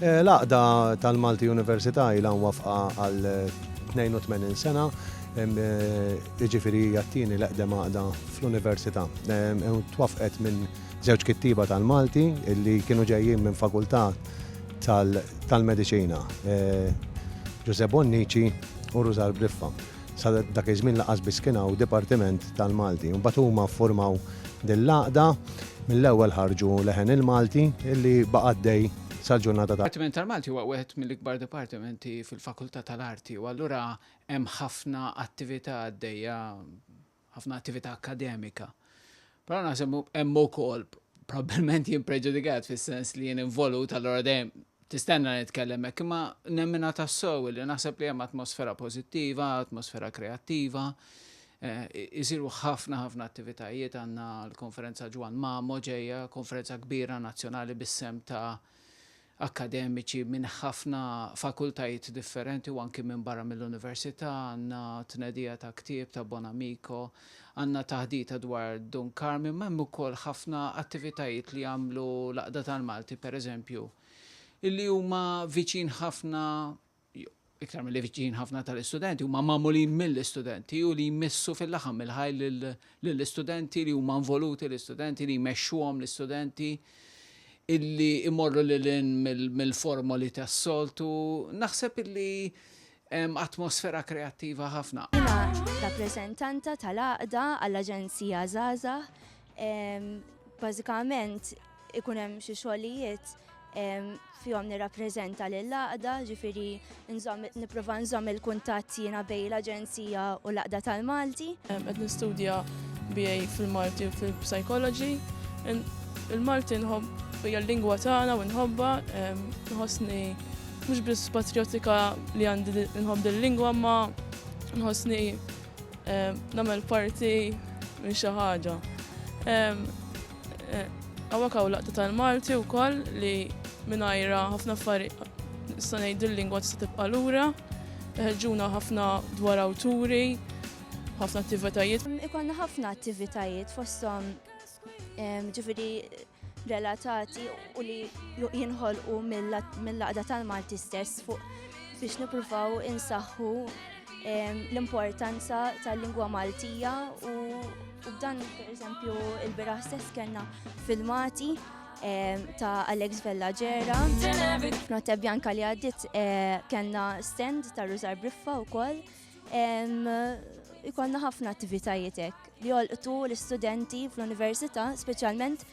L-għaqda tal-Malti Università ilha mwaffqa għal 82 sena, jiġifieri hija t-tieni l-eqdem għaqda fl-Università. Twaffqet minn żewġ kittieba tal-Malti li kienu ġejjin minn fakultà tal-mediċina, Ġużè Bonnici u Rużal Briffa. sa dak iż-żmien lanqas biss kien hawn dipartiment tal-Malti. Imbagħad huma ffurmaw din l-għaqda, mill-ewwel ħarġu leħen il-Malti li baqa' għaddej sal-ġurnata ta'. Dipartiment tal-Malti huwa wieħed mill-ikbar dipartimenti fil-Fakultà tal-Arti u allura hemm ħafna attività għaddejja ħafna attività akkademika. Però naħseb hemm ukoll probabbilment jien preġudikat fis-sens li jien involut allura dejjem tistenna nitkellem hekk, imma nemmina tassew li naħseb li hemm atmosfera pożittiva, atmosfera kreattiva. Isiru eh, ħafna ħafna attivitajiet għandna l-konferenza Ġwan Mamo ġejja, konferenza kbira nazzjonali bis-sem ta' akkademiċi minn ħafna fakultajiet differenti u anki minn barra mill-Università, għandna tnedija ta' ktieb ta' Bonamico, għandna taħdita dwar Dun Karmien, ma hemm ukoll ħafna attivitajiet li jagħmlu l-Għaqda tal-Malti, pereżempju, li huma viċin ħafna, iktar milli viċin ħafna tal-istudenti, huma magħmulin mill-istudenti u li jmissu fil-laħam il-ħaj lill-istudenti li huma involuti l-istudenti li jmexxuhom l-istudenti illi imorru lil mill-formoli tas-soltu, naħseb illi atmosfera kreattiva ħafna. Jiena rappreżentanta tal-Għaqda għall-Aġenzija Żgħażagħ Bażikament ikun hemm xi xogħlijiet fihom nirrappreżenta lill-laqda, ġifiri nipprova nżomm il-kuntatt jiena bej l-Aġenzija u l-laqda tal-Malti. Qed nistudja BA fil-Malti u fil-Psychology. Il-Malti nħobb hija l-lingwa tagħna u nħobba, nħossni mhux biss patrijotika li għandi nħobb il-lingwa ma nħossni eh, nagħmel parti minn xi ħaġa. Għawak eh, għaw laqta tal-Malti u koll li minnajra ħafna affari sanaj dil-lingwa tista' tibqa' lura, ħeġġuna ħafna dwar awturi, ħafna attivitajiet. Ikonna ħafna attivitajiet fostom ġifiri relatati u li jinħolqu mill-laqda tal-Malti stess fuq biex nipruvaw insaħħu l-importanza tal-lingwa Maltija u dan per eżempju il-biraħ stess kena filmati ta' Alex Vella Ġera. Notte Bianca li għaddit eh, kena stand ta' Ruzar Briffa u koll Ikonna ħafna attivitajiet hekk li jolqtu l-istudenti fl-università, speċjalment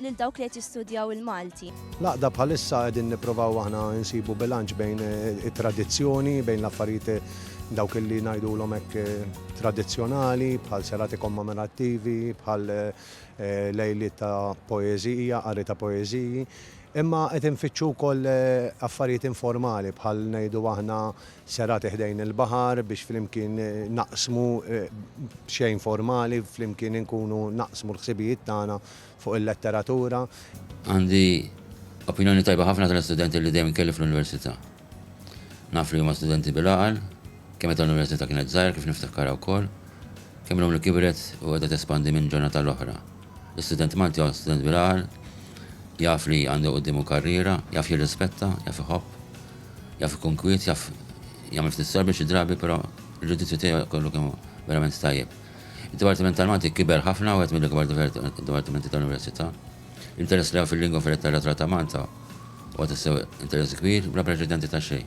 lil dawk li qed jistudjaw il-Malti. Laqda bħalissa qegħdin nipprovaw aħna nsibu bilanċ bejn eh, it-tradizzjoni, bejn l-affarijiet eh, dawk li ngħidulhom hekk eh, tradizzjonali, bħal serati kommemorattivi, bħal lejli ta' poeżija, qari ta' poeżiji. Imma qed infittxu wkoll affarijiet informali bħal ngħidu aħna serati ħdejn il-baħar biex flimkien naqsmu b'xejn formali, flimkien inkunu naqsmu l-ħsibijiet tagħna fuq il-letteratura. Għandi opinjoni tajba ħafna tal-istudenti li dejjem kelli fl-Università. Naf li huma studenti bil-għaqal, kemm meta l-Università kienet żgħira kif niftakkarha wkoll, kemm illum li kibret u qiegħda tespandi minn ġurnata għall-oħra. Student Malti huwa student bil-għar, jaf li għandu quddiemu karriera, jaf jirrispetta, jaf iħobb, jaf ikun kwiet, jaf jagħmel ftit sorbi xi drabi però l-ġudizzju tiegħu kollu kemm hu verament tajjeb. Id-Dipartiment tal-Malti kiber ħafna u wieħed mill-ikbar dipartimenti tal-Università. L-interess li hawn fil-lingwa fil-letteratura ta' Malta huwa tassew interess kbir bla preċedenti ta' xejn.